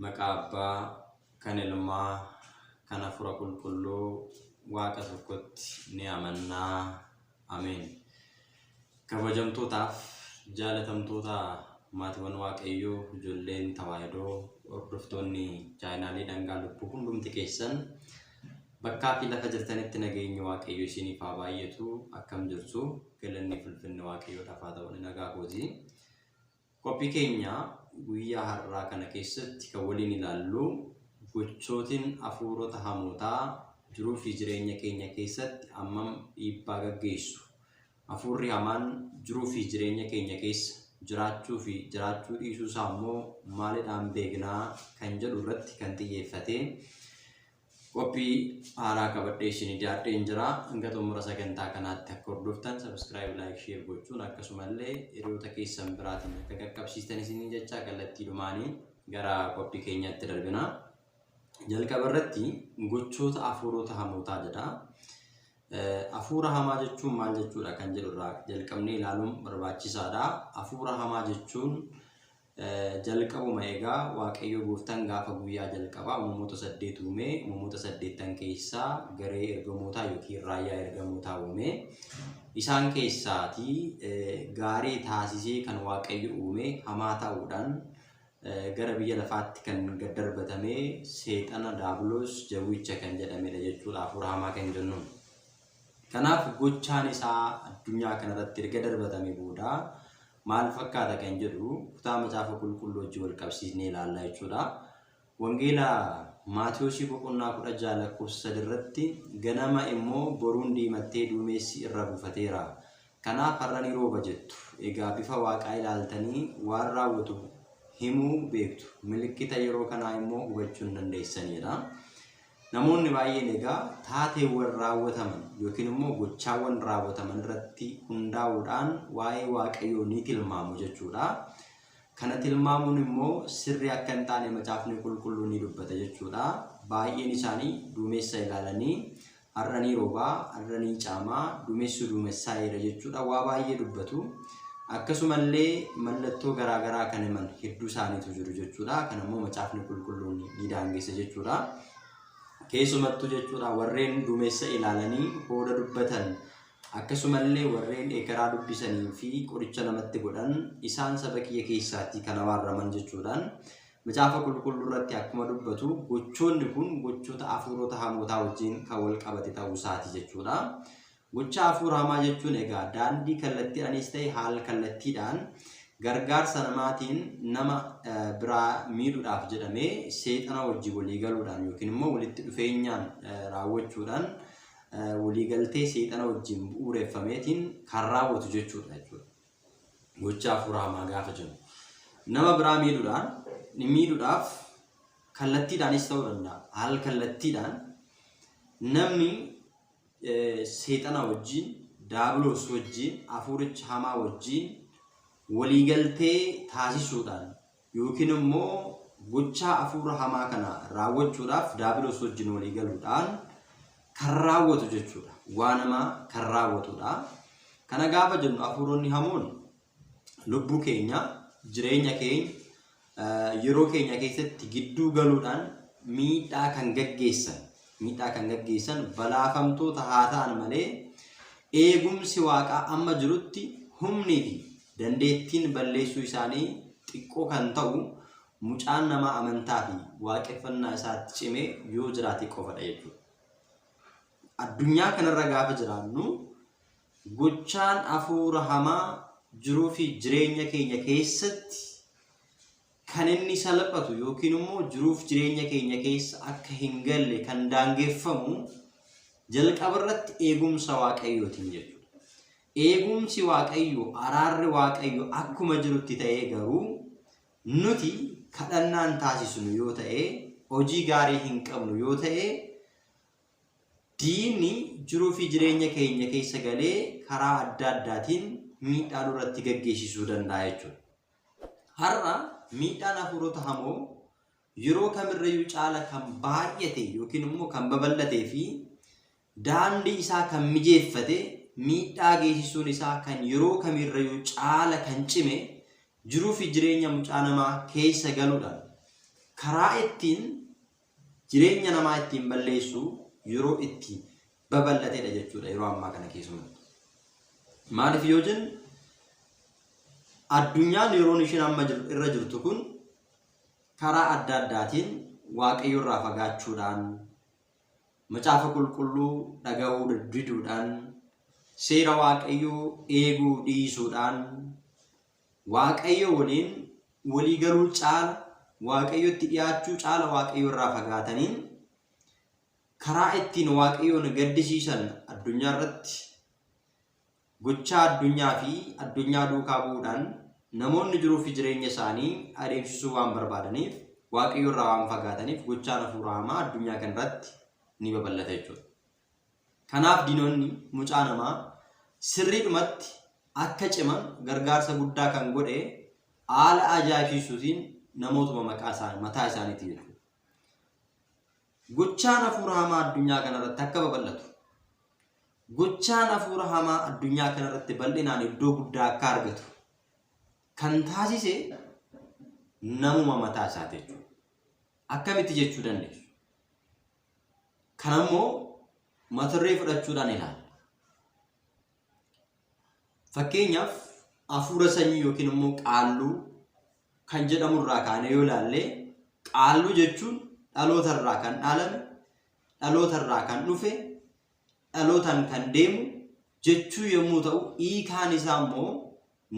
Maqaa Abbaa, kan Ilmaa, kan Hafuura Qulqulluu, Waaqa tokkotti ni amannaa. Ameen. Kabajamtootaaf jaalatamtoota maatiiwwan Waaqayyoo ijoolleen tawaahidoo hordoftoonni chaayinaalii dhangaa lubbuu hundumti keessan bakkaa fi lafa jirtanitti nageenyi Waaqayyo isiniif haa baay'atu akkam jirtu galanni fulfinni Waaqayyoodhaaf haa ta'u nagaa kooti. Qophii keenya guyyaa har'aa kana keessatti kan waliin ilaallu gochootiin hafuurota hamootaa jiruu fi jireenya keenya keessatti ammam dhiibbaa gaggeessu. Hafuurri hamaan jiruu fi jireenya keenya keessa jiraachuu fi jiraachuu dhiisuu isaa immoo maalidhaan beeknaa kan jedhu irratti kan xiyyeeffate Qophii haaraa qabadhee isinii dhiyaadheen jira. Hanga xumura sagantaa kanaatti akka hordoftan subscribe, like, share gochuun akkasumallee hiriyoota keessan biraatiin akka qaqqabsiistan isiniin jechaa kallattiidhumaanii gara qophii keenyaatti darbina. Jalqaba irratti gochoota afuurota hamootaa jedha. Afuura hamaa jechuun maal jechuudha kan jedhu irraa jalqabnee ilaaluun barbaachisaadha. Afuura hamaa jechuun Jalqabuma egaa Waaqayyo gooftaan gaafa guyyaa jalqabaa uumamoota saddeet uume, uumamoota saddeettan keessaa garee ergamootaa yookiin raayyaa ergamootaa uume. Isaan keessaati gaarii taasisee kan Waaqayyo uume hamaa ta'uudhaan gara biyya lafaatti kan gad darbatame seexana daabiloos jawwicha kan jedhamedha jechuudha hafuura hamaa kan jennu. Kanaaf gochaan isaa addunyaa kanarratti erga darbatame booda maal fakkaata kan jedhu kutaa macaafa qulqulluu wajjin wal qabsiisnee ilaalla jechuudha. Wangeela Maatiyoosii boqonnaa kudha ja'a lakkoofsa sadi irratti ganama immoo boruun diimattee duumessi irra buufateera. Kanaaf har'a ni rooba jettu. Egaa bifa waaqaa ilaaltanii waan raawwatu himuu beektu. Milikkita yeroo kanaa immoo hubachuu hin dandeessanidha. Namoonni baay'een egaa taateewwan raawwataman yookiin immoo gochaawwan raawwataman irratti hundaa'uudhaan waa'ee Waaqayyoo ni tilmaamu jechuudha. Kana tilmaamuun immoo sirrii akka hin taane macaafni qulqulluu ni dubbata jechuudha. Baay'een isaanii duumessa ilaalanii har'a ni roobaa, har'a ni caamaa, duumessu duumessaayeera jechuudha waa baay'ee dubbatu. Akkasumallee mallattoo garaa garaa kan himan hedduu isaaniitu jiru jechuudha. Kan ammoo macaafni qulqulluun ni daangessa jechuudha. Keessumattuu jechuudha warreen duumessa ilaalanii hooda dubbatan akkasumallee warreen ekeraa dubbisanii fi qoricha namatti godhan isaan saba kiyya keessaatti kan abaaraman jechuudhaan macaafa qulqulluu irratti akkuma dubbatu gochoonni kun gochoota hafuurota hamootaa wajjin kan wal qabate ta'uu isaati jechuudha. Gochaa hafuura hamaa jechuun egaa daandii kallattiidhaniis ta'e haal kallattiidhaan gargaarsa namaatiin nama biraa miidhudhaaf jedhamee seexana wajjin walii galuudhaan yookiin immoo walitti dhufeenyaan raawwachuudhaan walii galtee seexana wajjin bu'uureffameetiin kan raawwatu jechuudha jechuudha. Gochaa hafuura hamaa gaafa jennu. Nama biraa miidhudhaan miidhudhaaf kallattiidhaanis ta'uu danda'a. Haal kallattiidhaan namni seexana wajjiin, Daabiloos wajjiin, hafuuricha hamaa wajjiin waliigaltee taasisuudhaan yookiin immoo gochaa hafuura hamaa kana raawwachuudhaaf Daabiloos wajjiin waliigaluudhaan kan raawwatu jechuudha. Waanama kan raawwatudha. Kana gaafa jennu hafuuronni hamoon lubbuu keenya, jireenya keenya, yeroo keenya keessatti gidduu galuudhaan miidhaa kan gaggeessan miidhaa kan gaggeessan balaafamtoota haa ta'an malee eegumsi waaqaa amma jirutti humnii fi dandeettiin balleessuu isaanii xiqqoo kan ta'u mucaan namaa amantaa fi waaqeffannaa isaatti cimee yoo jiraate qofadha jechuudha. Addunyaa kanarra gaafa jiraannu Gochaan afuura hamaa jiruu fi jireenya keenya keessatti kan inni salphatu yookiin immoo jiruuf jireenya keenya keessa akka hin galle kan daangeffamu jalqaba irratti eegumsa waaqayyootiin jechuudha. Eegumsi waaqayyoo araarri waaqayyoo akkuma jirutti ta'ee garuu nuti kadhannaan taasisnu yoo ta'e hojii gaarii hin qabnu yoo ta'e Diinni jiruu fi jireenya keenya keessa galee karaa adda addaatiin miidhaa nurratti gaggeessisuu danda'a jechuudha. Har'a miidhaan hafuurota hamoo yeroo kamirrayyuu caala kan baay'ate yookiin immoo kan babal'atee fi daandii isaa kan mijeeffate miidhaa geessisuun isaa kan yeroo kamiirrayyuu caala kan cime jiruu fi jireenya mucaa namaa keessa galuudhaan karaa ittiin Jireenya namaa ittiin balleessu yeroo itti babal'atedha jechuudha yeroo ammaa kana keessumatti. Maaliif yoo jennu addunyaan yeroon isheen amma jir- irra jirtu kun karaa adda addaatiin waaqayyo irraa fagaachuudhaan macaafa qulqulluu dhaga'uu diduudhaan seera waaqayyoo eeguu dhiisuudhaan Waaqayyo waliin walii galuu caala, Waaqayyotti dhiyaachuu caala Waaqayyo irraa fagaatanii karaa ittiin Waaqayyoon gaddisiisan addunyaa irratti gochaa addunyaa fi addunyaa duukaa bu'uudhaan namoonni jiruu fi jireenya isaanii adeemsisuu waan barbaadaniif Waaqayyo irraa waan fagaataniif gochaan hafuuraa hamaa addunyaa kana irratti ni babal'ata jechuudha. Kanaaf diinonni mucaa namaa sirriidhumatti akka ciman gargaarsa guddaa kan godhe haala ajaa'ibsiisuutiin namootuma maqaa isaanii mataa isaaniitiin jechuudha. Gochaan hafuura hamaa addunyaa kanarratti akka babal'atu gochaan hafuura hamaa addunyaa kanarratti bal'inaan iddoo guddaa akka argatu kan taasise namuma mataa isaati jechuudha. Akkamitti jechuu dandeessu? Kana immoo mataduree fudhachuudhaan ilaalla. Fakkeenyaaf hafuura sanyii yookiin immoo qaalluu kan jedhamu irraa kaanee yoo ilaalle qaalluu jechuun dhaloota irraa kan dhaalame, dhaloota irraa kan dhufe, dhalootaan kan deemu jechuu yommuu ta'u hiikaan isaa immoo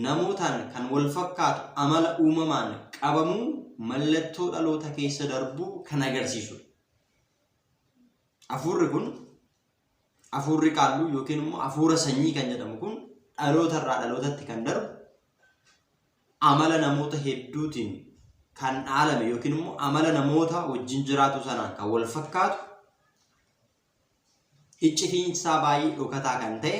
namootaan kan walfakkaatu amala uumamaan qabamuu mallattoo dhaloota keessa darbuu kan agarsiisudha. Afuurri kun afuurri qaalluu yookiin immoo afuura sanyii kan jedhamu kun dhaloota irraa dhalootatti kan darbu amala namoota hedduutiin kan dhaalame yookiin immoo amala namoota wajjin jiraatu sanaan kan wal fakkaatu iccitiinsaa baay'ee dhokataa kan ta'e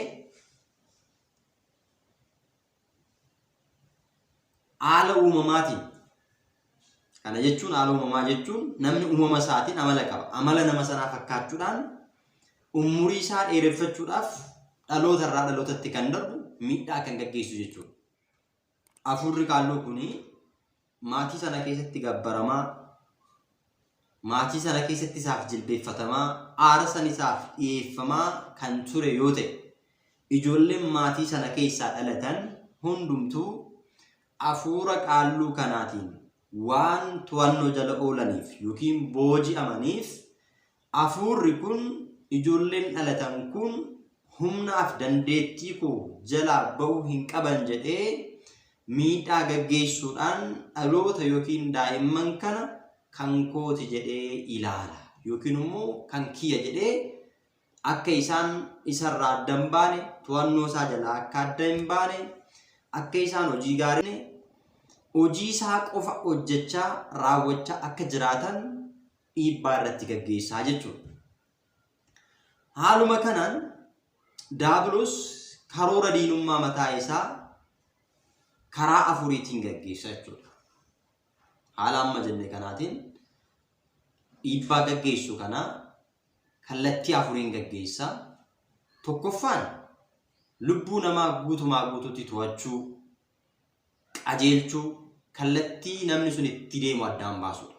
haala uumamaatiin kana jechuun haala uumamaa jechuun namni uumama isaatiin amala qaba amala nama sanaa fakkaachuudhaan umurii isaa dheereffachuudhaaf dhaloota irraa dhalootatti kan darbu miidhaa kan gaggeessu jechuudha. Afuurri qaalluu kun maatii sana keessatti gabbaramaa, maatii sana keessatti isaaf jilbeeffatamaa, aarsan isaaf dhiyeeffamaa kan ture yoo ta'e, ijoolleen maatii sana keessaa dhalatan hundumtuu afuura qaalluu kanaatiin waan to'annoo jala oolaniif yookiin booji'amaniif Afuurri kun, ijoolleen dhalatan kun humnaaf dandeettii koo jalaa ba'uu hin qaban jedhee miidhaa gaggeessuudhaan dhaloota yookiin daa'imman kana kan kooti jedhee ilaala yookiin immoo kan kiyya jedhee akka isaan isarraa adda hin baane to'annoo isaa jalaa akka adda hin baane akka isaan hojii gaarii hojii isaa qofa hojjechaa raawwachaa akka jiraatan dhiibbaa irratti gaggeessaa jechuudha. Haaluma kanaan Daabiloos karoora diinummaa mataa isaa karaa afuriitiin gaggeessa jechuudha. Haala amma jenne kanaatiin dhiibbaa gaggeessu kana kallattii afuriin gaggeessa. Tokkoffaan lubbuu namaa guutumaa guututti to'achuu, qajeelchuu, kallattii namni sun itti deemu addaan baasuudha.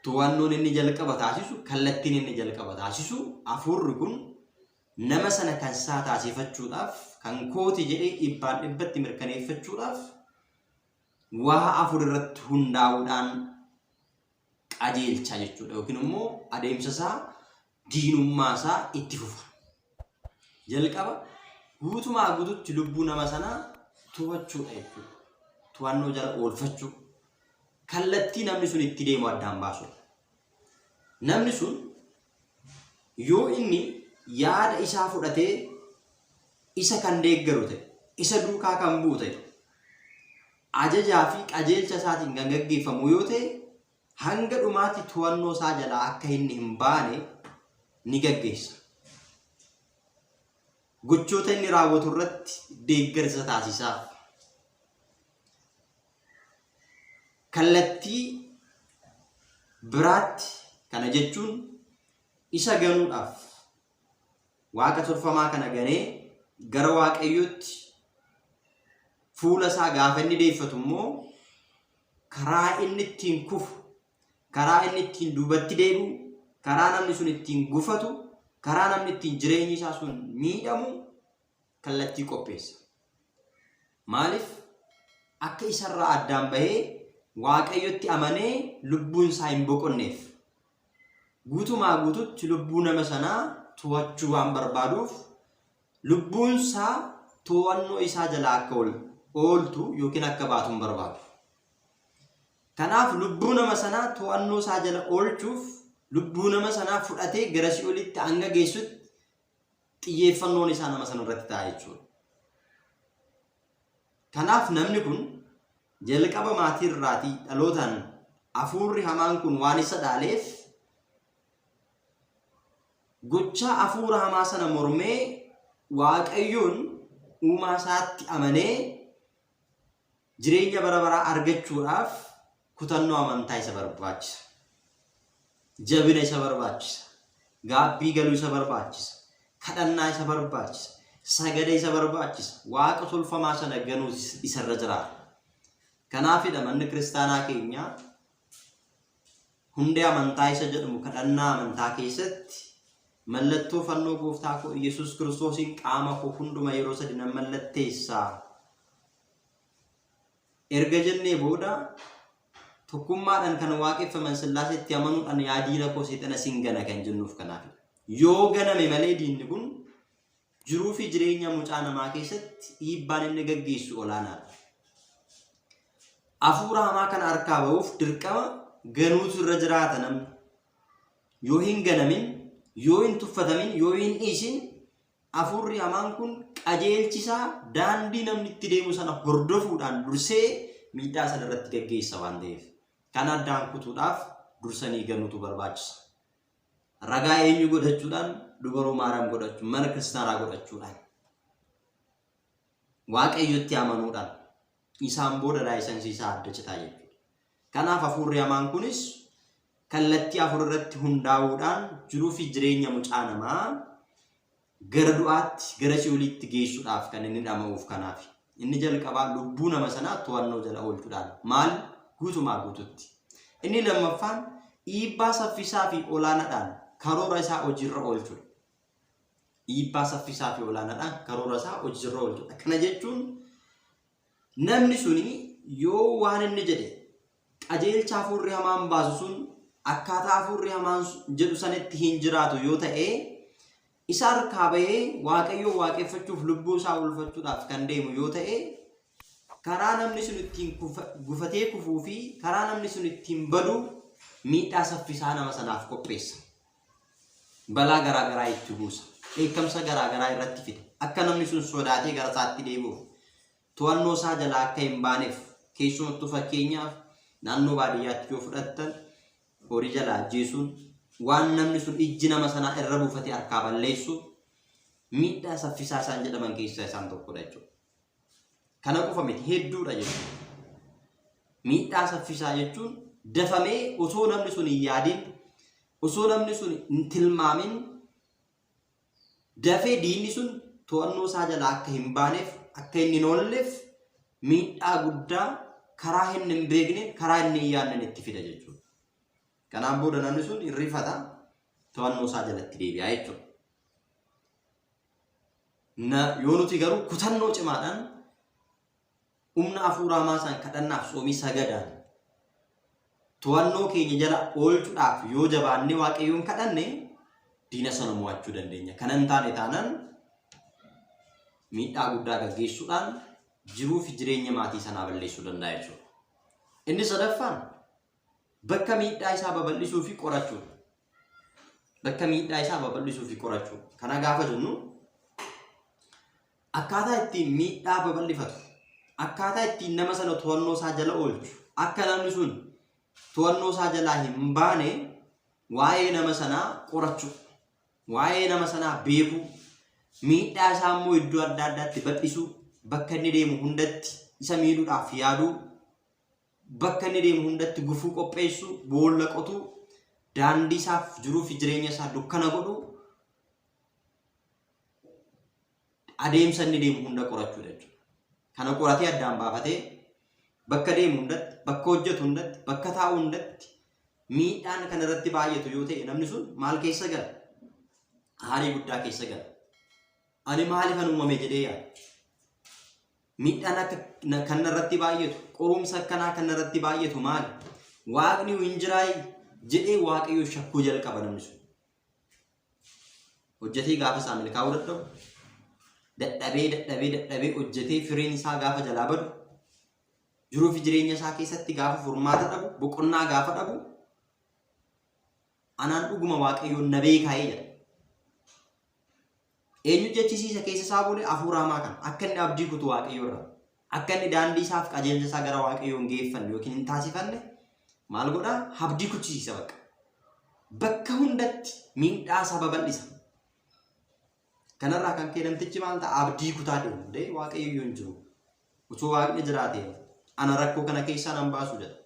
To'annoon inni jalqaba taasisu, kallattiin inni jalqaba taasisu, hafuurri kun nama sana kan isaa taasifachuudhaaf, kan kooti jedhee dhibbaan dhibbatti mirkaneeffachuudhaaf waa afur irratti hundaa'uudhaan qajeelcha jechuudha. Yookiin immoo adeemsa isaa diinummaa isaa itti fufa. Jalqaba guutumaa guututti lubbuu nama sanaa to'achuudha jechuudha. To'annoo jala oolfachuu. Kallattii namni sun itti deemu addaan baasuudha. Namni sun yoo inni yaada isaa fudhatee isa kan deeggaru ta'e, isa duukaa kan bu'u ta'e, ajajaa fi qajeelcha isaatiin kan gaggeeffamu yoo ta'e hanga dhumaatti to'annoo isaa jalaa akka inni hin baane ni gaggeessa. Gochoota inni raawwatu irratti deeggarsa taasisaa. Kallattii biraatti kana jechuun isa ganuudhaaf waaqa tolfamaa kana ganee gara waaqayyootti fuula isaa gaafa inni deeffatu immoo karaa inni ittiin kufu, karaa inni ittiin duubatti deebi'u, karaa namni sun ittiin gufatu, karaa namni ittiin jireenyi isaa sun miidhamu kallattii qopheessa. Maaliif? Akka isarraa addaan bahee Waaqayyotti amanee lubbuun isaa hin boqonneef. Guutumaa guututti lubbuu nama sanaa to'achuu waan barbaaduuf Lubbuunsaa to'annoo isaa jalaa akka ol ooltu yookiin akka baatu hin barbaadu. Kanaaf lubbuu nama sanaa to'annoo isaa jala oolchuuf lubbuu nama sanaa fudhatee gara si'olitti hanga geessutti xiyyeeffannoon isaa nama sana irratti ta'a jechuudha. Kanaaf namni kun jalqaba maatii irraatii dhalootaan hafuurri hamaan kun waan isa dhaaleef Gochaa hafuura hamaa sana mormee Waaqayyoon uumaa isaatti amanee jireenya bara baraa argachuudhaaf kutannoo amantaa isa barbaachisa. Jabina isa barbaachisa. Gaabbii galuu isa barbaachisa. Kadhannaa isa barbaachisa. Sagada isa barbaachisa. Waaqa tolfamaa sana ganuus isarra jiraata. Kanaafidha manni kiristaanaa keenyaa Hundee amantaa isa jedhamu kadhannaa amantaa keessatti mallattoo fannoo gooftaa koo Iyyasuus Kiristoosiin qaama koo hunduma yeroo sadi nan mallatteessa. Erga jennee booda tokkummaadhaan kan waaqeffaman sillaaseetti amanuudhaan yaa diina koo seexana sin gana kan jennuuf kanaafidha. Yoo ganame malee diinni kun Jiruufi jireenya mucaa namaa keessatti dhiibbaan inni gaggeessu olaanaadha. Afuura hamaa kana harkaa ba'uuf dirqama ganuutu irra jiraata namni. Yoo hin ganamin, yoo hin tuffatamin, yoo hin dhiisin afuurri hamaan kun qajeelchisaa daandii namni itti deemu sana hordofuudhaan dursee miidhaa sana irratti gaggeessa waan ta'eef. Kana addaan kutuudhaaf dursanii ganuutu barbaachisa. Ragaa eenyu godhachuudhaan? Dubaroo Maariyaam godhachuun, mana kiristaanaa godhachuudhaan. Waaqayyotti amanuudhaan. Isaan booda laayisansii isaa adda citaa jechuudha. Kanaaf hafuurri hamaan kunis kallattii afur irratti hundaa'uudhaan jiruu fi jireenya mucaa namaa Gara du'aatti, gara si'oliitti geessudhaaf kan inni dhama'uuf kanaafi. Inni jalqabaa lubbuu nama sanaa to'annoo jala oolchudhaan, maal? Guutumaa guututti. Inni lammaffaan dhiibbaa saffisaa fi olaanadhaan karoora isaa hojiirra oolchudha. Dhiibbaa saffisaa fi olaanadhaan karoora isaa hojiirra oolchudha. Kana jechuun namni suni yoo waan inni jedhe Qajeelcha hafuurri hamaan baasu sun akkaataa hafuurri hamaan jedhu sanitti hin jiraatu yoo ta'e, isa harkaa bahee Waaqayyoo waaqeffachuuf lubbuu isaa oolfachuudhaaf kan deemu yoo ta'e, karaa namni sun ittiin gufatee kufuu fi karaa namni sun ittiin badu miidhaa saffisaa nama sanaaf qopheessa. Balaa garaa garaa itti buusa. Dheekkamsa garaa garaa irratti fida. Akka namni sun sodaatee gara isaatti deebi'uuf to'annoo isaa jalaa akka hin baaneef keessumattuu fakkeenyaaf naannoo baadiyyaatti yoo fudhattan horii jalaa ajjeesuun waan namni sun ijji nama sanaa irra buufate harkaa balleessu miidhaa saffisaa isaan jedhaman keessaa isaan tokkodha jechuudha. Kana qofa miti hedduudha jechuudha. Miidhaa saffisaa jechuun dafamee osoo namni sun hin yaadin osoo namni sun hin tilmaamin Dafee diinni sun to'annoo isaa jalaa akka hin baaneef, akka inni hin oolleef miidhaa guddaa karaa inni hin beekneen, karaa inni hin yaadneen itti fida jechuudha. Kanaan booda namni sun hin rifata, to'annoo isaa jalatti deebi'a jechuudha. Na, yoo nuti garuu kutannoo cimaadhaan Humna hafuuraa maasaan kadhannaaf soomii sagadaan to'annoo keenya jala oolchuudhaaf yoo jabaannee waaqayyoon kadhanne diina sana mo'achuu dandeenya. Kana hin taane taanaan miidhaa guddaa gaggeessuudhaan jiruu fi jireenya maatii sanaa balleessuu danda'a jechuudha. Inni sadaffaan bakka miidhaa isaa babal'isuu fi qorachuudha. Bakka miidhaa isaa babal'isuu fi qorachuudha. Kana gaafa jennu Akkaataa ittiin miidhaa babal'ifatu, akkaataa ittiin nama sana to'annoo isaa jala oolchu, akka namni sun to'annoo isaa jalaa hin baane waa'ee nama sanaa qorachuu, waa'ee nama sanaa beekuu, miidhaa isaa immoo iddoo adda addaatti bal'isuu, bakka inni deemu hundatti isa miidhuudhaaf yaaduu, bakka inni deemu hundatti gufuu qopheessuu, boolla qotuu, daandii isaaf jiruu fi jireenya isaa dukkana godhuu, adeemsa inni deemu hunda qorachuu jechuudha. Kana qoratee addaan baafatee bakka deemu hundatti, bakka hojjetu hundatti, bakka taa'u hundatti miidhaan kan irratti baay'atu yoo ta'e namni sun maal keessa gala? Aarii guddaa keessa gala. Ani maaliifan uumame jedhee yaada. Miidhaan akka na- kan irratti baay'atu, qorumsa akkanaa kan irratti baay'atu maali? Waaqni hin jiraa jedhee waaqayyo shakkuu jalqaba namni sun. Hojjetee gaafa isaa milkaa'uu dadhabu, dadhabee dadhabee dadhabee hojjetee firiin isaa gaafa jalaa badu, jiruu fi jireenya isaa keessatti gaafa furmaata dhabu, boqonnaa gaafa dhabu, anaan dhuguma waaqayyoon na beekaa'ee jedha. Eenyu jechisiisa keessa isaa bulee hafuura hamaa kana akka inni abdii kutu waaqayyoorraa. Akka inni daandii isaa fi qajeelcha isaa gara Waaqayyoo hin geeffanne yookiin hin taasifanne maal godha? Habdii kuchisiisa bakka. Bakka hundatti miidhaa isaa babal'isa. Kanarraa kan ka'e namtichi maal ta'a? Abdii kutaa deema. Dee Waaqayyoo hin jiru. Utuu Waaqni jiraatee ana rakkoo kana keessaa nan baasu jedha.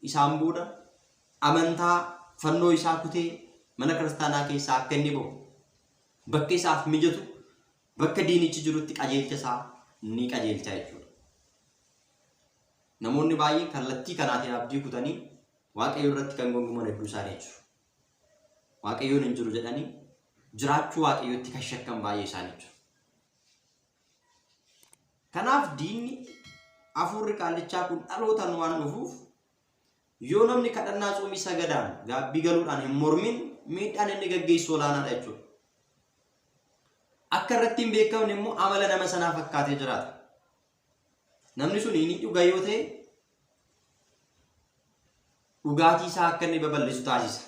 Isaan booda amantaa fannoo isaa kutee mana kiristaanaa keessaa akka inni ba'u bakka isaaf mijatu Bakka diinichi jirutti qajeelcha isaa ni qajeelcha jechuudha. Namoonni baay'een kallattii kanaatiin abdii kutanii waaqayyo irratti kan gonguman hedduu isaanii jiru. Waaqayyoon hin jiru jedhanii jiraachuu waaqayyootti kan shakkan baay'ee isaanii jiru. Kanaaf diinni hafuurri qaallichaa kun dhalootaan waan dhufuuf Yoo namni kadhannaa tsoomii sagadaan gaabbii galuudhaan hin mormin miidhaan inni gaggeessu olaanaadha jechuudha. Akka irratti hin beekamne immoo amala nama sanaa fakkaatee jiraata. Namni sun inni dhuga yoo ta'e dhugaatii isaa akka inni babal'isu taasisa.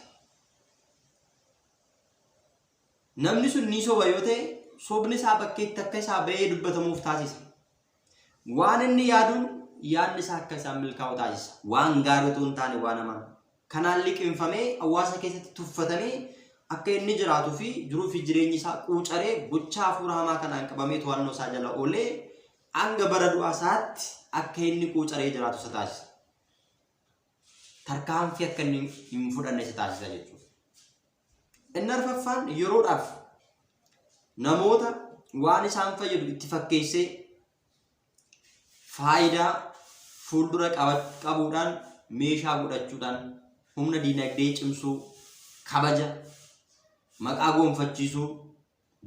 Namni sun ni soba yoo ta'e sobni isaa bakkeetti akka isaa ba'ee dubbatamuuf taasisa. Waan inni yaaduun yaadni isaa akka isaan milkaa'u taasisa. Waan gaarii utuu hin taane waan hamaan. Kanaan liqimfamee hawaasa keessatti tuffatamee akka inni jiraatuu fi jiruu fi jireenyi isaa quucaree gochaa hafuura hamaa kanaan qabamee to'annoo isaa jala oolee hanga bara du'aa isaatti akka inni quucaree jiraatu isa taasisa. Tarkaanfii akka inni hin fudhanne isa taasisa jechuudha. Inni arfaffaan yeroodhaaf namoota waan isaan fayyadu itti fakkeessee faayidaa fuuldura qabuudhaan meeshaa godhachuudhaan humna diinagdee cimsuu, kabaja, maqaa goonfachiisuu,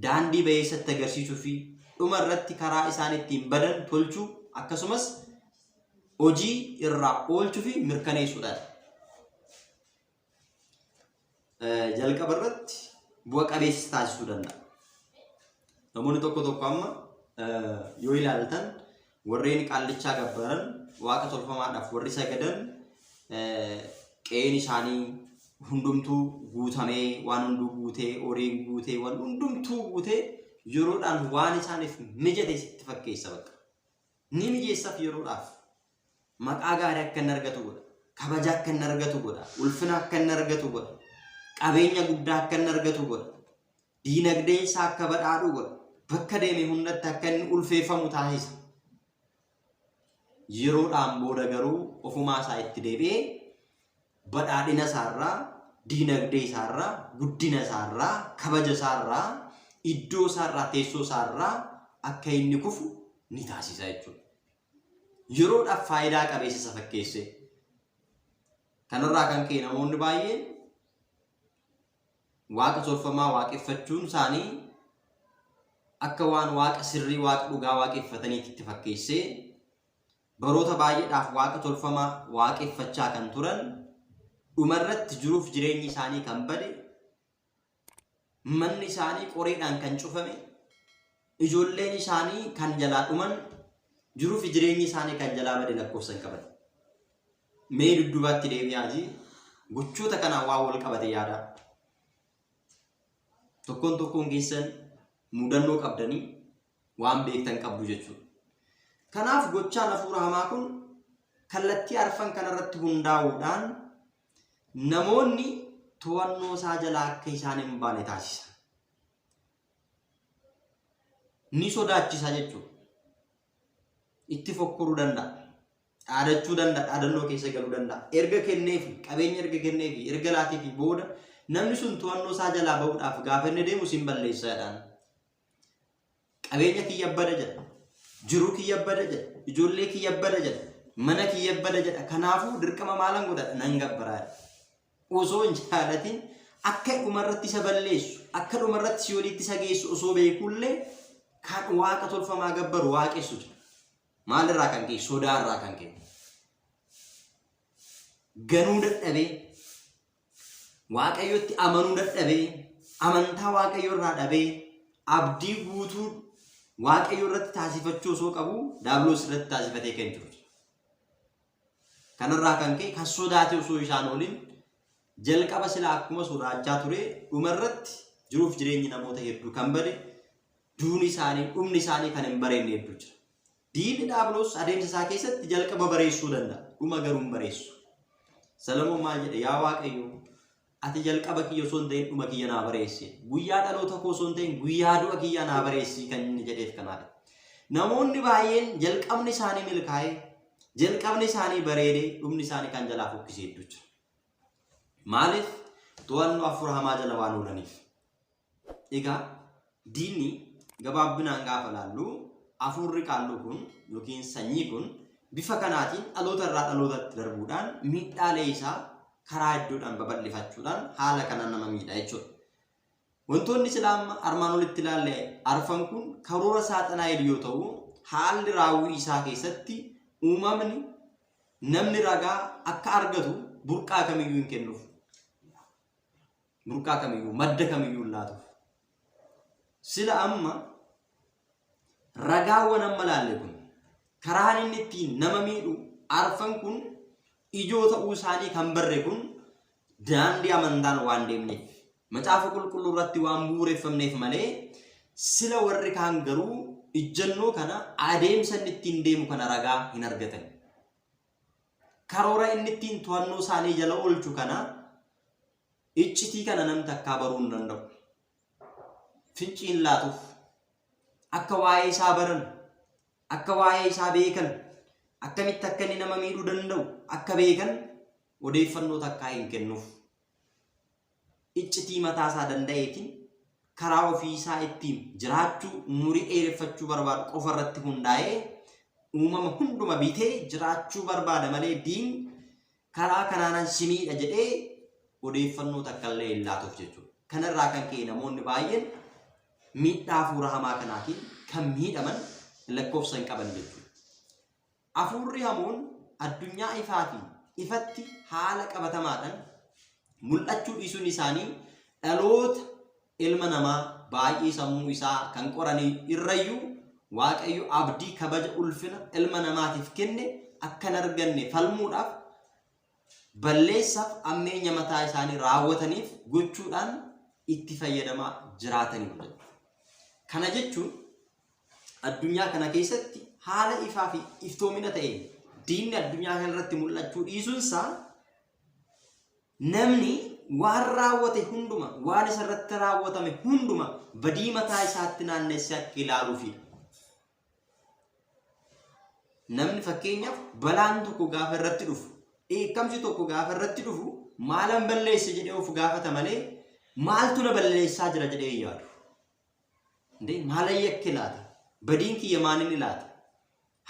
daandii bayeessa itti agarsiisuu fi dhuma irratti karaa isaan ittiin badan tolchuu akkasumas hojii irraa oolchuu fi mirkaneessuudhaan. jalqaba irratti bu'a qabeessa taasisuu danda'a. Namoonni tokko tokko amma yoo ilaaltan warreen qaallichaa gabbaran waaqa tolfamaadhaaf warri sagadan qe'een isaanii hundumtuu guutamee waan hunduu guutee horiin guutee waan hundumtuu guutee yeroodhaan waan isaaniif mijate sitti fakkeessa bakka. Ni mijeessaaf yeroodhaaf Maqaa gaarii akka inni argatu godha. Kabaja akka inni argatu godha. Ulfina akka inni argatu godha. Qabeenya guddaa akka inni argatu godha. Diinagdeen isaa akka badhaadhu godha. Bakka deeme hundatti akka inni ulfeeffamu taasisa. Yeroodhaan booda garuu ofumaa isaa itti deebi'ee badhaadhina isaarraa, diinagdee isaarraa, guddina isaarraa, kabaja isaarraa, iddoo isaarraa, teessoo isaarraa akka inni kufu ni taasisa jechuudha. yeroodhaaf faayidaa qabeessa isa fakkeesse. Kanarraa kan ka'e namoonni baay'een waaqa tolfamaa waaqeffachuun isaanii akka waan waaqa sirrii waaqa dhugaa waaqeffataniitti itti fakkeessee baroota baay'eedhaaf waaqa tolfamaa waaqeffachaa kan turan dhumarratti jiruuf jireenyi isaanii kan bade Manni isaanii qoreedhaan kan cufame, ijoolleen isaanii kan jalaa dhuman, jiruu fi jireenyi isaanii kan jalaa bade lakkoofsa hin qaban. Mee duddubaatti deebi'aati gochoota kanaan waan wal qabate yaadaa. Tokkoon tokkoon keessan mudannoo qabdanii waan beektan qabdu jechuudha. Kanaaf gochaan hafuura hamaa kun kallattii arfan kanarratti hundaa'uudhaan namoonni to'annoo isaa jalaa akka isaan hin baane taasisa. Ni sodaachisa jechuudha. Itti fokkuruu danda'a. Dhaadachuu danda'a, dhaadannoo keessa galuu danda'a. Erga kenneefi, qabeenya erga kenneefi, erga laateefi booda namni sun to'annoo isaa jalaa ba'uudhaaf gaafa inni deemu sin balleessa jedhaan. Qabeenya kiyya bada jedha. Jiruu kiyya bada jedha. Ijoollee kiyya bada jedha. Mana kiyya bada jedha. Kanaafuu dirqama maalan godha nan gabbaraa. Osoo hin jaalatin akka dhumarratti isa balleessu, akka dhumarratti si walitti isa geessu osoo beekullee kan waaqa tolfamaa gabbaru waaqessu jira. Maalirraa kan ka'e? Sodaarraa kan ka'e. Ganuu dadhabee Waaqayyotti amanuu dadhabee, amantaa Waaqayyo irraa dhabee, abdii guutuu Waaqayyo irratti taasifachuu osoo qabu daabiloos irratti taasifatee kan jiru. Kanarraa kan ka'e kan sodaate osoo isaan oolin jalqaba silaa akkuma sodaachaa ture dhumarratti jiruuf jireenyi namoota hedduu kan bade duuni isaanii dhumni isaanii kan hin bareenye hedduu jira. Diinni Dhaabiloos adeemsa isaa keessatti jalqaba bareessuu danda'a. Dhuma garuu hin bareessu. Salamoon maal jedhe? Yaa Waaqayyo, ati jalqaba kiyya osoo hin ta'in dhuma kiyya naa bareessi. Guyyaa dhaloota koo osoo hin ta'in guyyaa du'a kiyyaa naa bareessi kan inni jedheef kanaadha. Namoonni baay'een jalqabni isaanii milkaa'e, jalqabni isaanii bareede, dhumni isaanii kan jalaa fokkisee hedduu jira. Maaliif? To'annoo hafuura hamaa jala waan oolaniif. Egaa diinni gabaabbinaan gaafa ilaallu afuurri qaalluu kun yookiin sanyii kun bifa kanaatiin dhaloota irraa dhalootatti darbuudhaan miidhaalee isaa karaa hedduudhaan babal'ifachuudhaan haala kanaan nama miidha jechuudha. Wantoonni silaa amma armaan olitti ilaalle arfan kun karoora saaxanaa'el yoo ta'u haalli raawwii isaa keessatti uumamni namni ragaa akka argatu burqaa kamiyyuu hin kennuuf. burqaa kamiyyuu, madda kamiyyuu hin laatuuf. Sila amma ragaawwan amma laalle kun karaan inni ittiin nama miidhu arfan kun ijoo ta'uu isaanii kan barre kun daandii amantaan waan deemneef macaafa qulqulluu irratti waan bu'uureffamneef malee sila warri kaan garuu ijjannoo kana adeemsa inni ittiin deemu kana ragaa hin argatan. Karoora inni ittiin to'annoo isaanii jala oolchu kana iccitii kana nam takkaa baruu hin danda'u. Fincii hin laatuuf. Akka waa'ee isaa baran, akka waa'ee isaa beekan, akkamitti akka inni nama miidhuu danda'u akka beekan odeeffannoo takkaa hin kennuuf. iccitii mataa isaa danda'eetiin karaa ofii isaa ittiin jiraachuu umurii dheereffachuu barbaadu qofa irratti hundaa'ee uumama hunduma bitee jiraachuu barbaada malee diin karaa kanaanan si miidha jedhee odeeffannoo takka illee hin laatuuf jechuudha. Kanarraa kan ka'e namoonni baay'een miidhaa hafuura hamaa kanaatiin kan miidhaman lakkoofsa hin qaban jechuudha. Afuurri hamoon addunyaa ifaa fi ifatti haala qabatamaadhan mul'achuu dhiisuun isaanii dhaloota ilma namaa baay'ee sammuu isaa kan qorani irrayyuu Waaqayyo abdii kabaja ulfina ilma namaatiif kenne akka hin arganne falmuudhaaf balleessaaf ammeenya mataa isaanii raawwataniif gochuudhaan itti fayyadamaa jiraataniiru jedha. Kana jechuun Addunyaa kana keessatti haala ifaa fi iftoomina ta'een diinni addunyaa kana irratti mul'achuu dhiisuunsaa namni waan raawwate hunduma waan isa irratti raawwatame hunduma badii mataa isaatti naannessee akka ilaaluufidha. Namni fakkeenyaaf balaan tokko gaafa irratti dhufu dheekkamsi tokko gaafa irratti dhufu maalan balleesse jedhee of gaafata malee maaltu na balleessaa jira jedhee yaadu. Ndee maalan yakke laata? Badiin kiyya maalinni laata?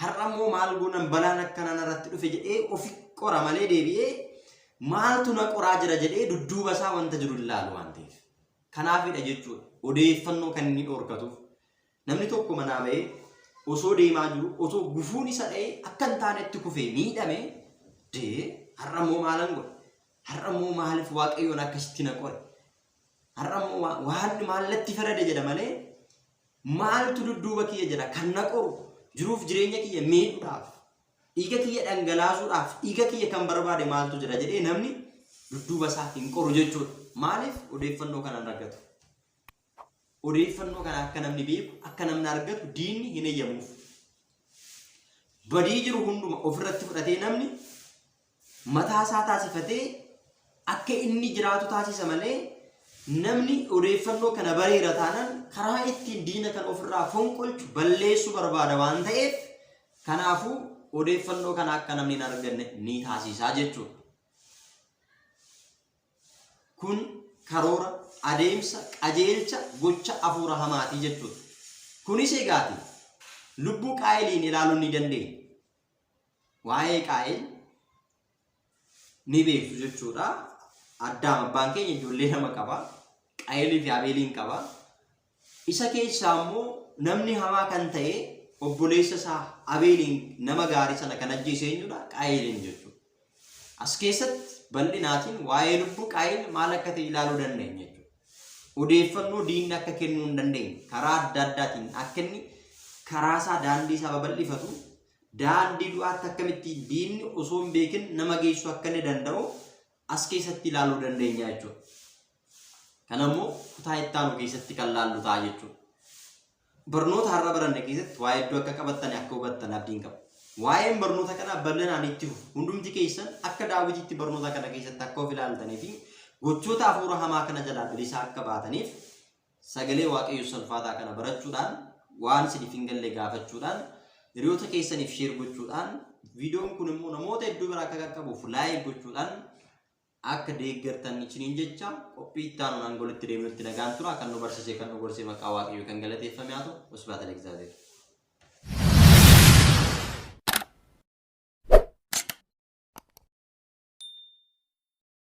Har'a immoo maal goonan balaan akkanaa narratti dhufe jedhee ofi qora malee deebi'ee maaltu na qoraa jira jedhee dudduuba isaa wanta jiru hin laalu waan ta'eef. Kanaafidha jechuudha. Odeeffannoo kan inni dhorkatuuf. Namni tokko manaa ba'ee osoo deemaa jiru osoo gufuun isa dha'ee akka hin taanetti kufee miidhame dee har'a immoo maalan godhe? Har'a immoo maaliif waaqayyoon akkasitti na qore? Har'a immoo waa- waaqni maal natti farade jedha malee maaltu dudduuba kiyya jira kan na qoru jiruuf jireenya kiyya miidhuudhaaf dhiiga kiyya dhangalaasuudhaaf dhiiga kiyya kan barbaade maaltu jira jedhee namni dudduuba isaa hin qoru jechuudha. Maaliif odeeffannoo kana hin argatu? Odeeffannoo kana akka namni beeku akka namni argatu diinni hin eeyyamuuf. Badii jiru hunduma ofirratti fudhatee namni mataa isaa taasifatee akka inni jiraatu taasisa malee namni odeeffannoo kana bareera taanaan karaa ittiin diina kan ofirraa fonqolchu balleessuu barbaada waan ta'eef kanaafuu odeeffannoo kana akka namni hin arganne ni taasisaa jechuudha. Kun karoora adeemsa qajeelcha gocha afuura hamaatii jechuudha. Kunis egaati lubbuu qaayiliin ilaaluun ni dandeenya. waa'ee qaa'el ni beektu jechuudha. Addaam abbaan keenya ijoollee lama qaba. Qaa'elii fi Abeeliin qaba. Isa keessaa immoo namni hamaa kan ta'e obboleessa isaa Abeeliin nama gaarii sana kan ajjeese eenyudha? Qaa'eliin jechuudha. As keessatti bal'inaatiin waa'ee lubbuu Qaayin maal akka ta'e ilaaluu dandeenya jechuudha. Odeeffannoo diinni akka kennuu hin dandeenye karaa adda addaatiin akka inni karaa isaa daandii isaa babal'ifatu daandii du'aatti akkamitti diinni osoo hin beekin nama geessu akka inni danda'u as keessatti ilaaluu dandeenya jechuudha. Kanammoo kutaa itti aanu keessatti kan laallu ta'a jechuudha. Barnoota har'a baranne keessatti waa hedduu akka qabattan akka hubattan abdiin qaba. Waa'een barnoota kanaa bal'inaan itti fufu. Hundumti keessan akka daawwitiitti barnoota kana keessatti akka of ilaaltanii fi gochoota hafuura hamaa kana jalaa bilisaa akka baataniif sagalee waaqayyoo salfaataa kana barachuudhaan waan isiniif hin galle gaafachuudhaan hiriyoota keessaniif sheer gochuudhaan viidiyoon kun immoo namoota hedduu bira akka qaqqabuuf laayik gochuudhaan akka deeggartan isiniin jecha qophii itti aanuun hanga walitti deemnutti nagaan tura kan nu barsiisee kan nu gorsee maqaa waaqayyoo kan galateeffame haa ta'u usbaata leegzaabeer.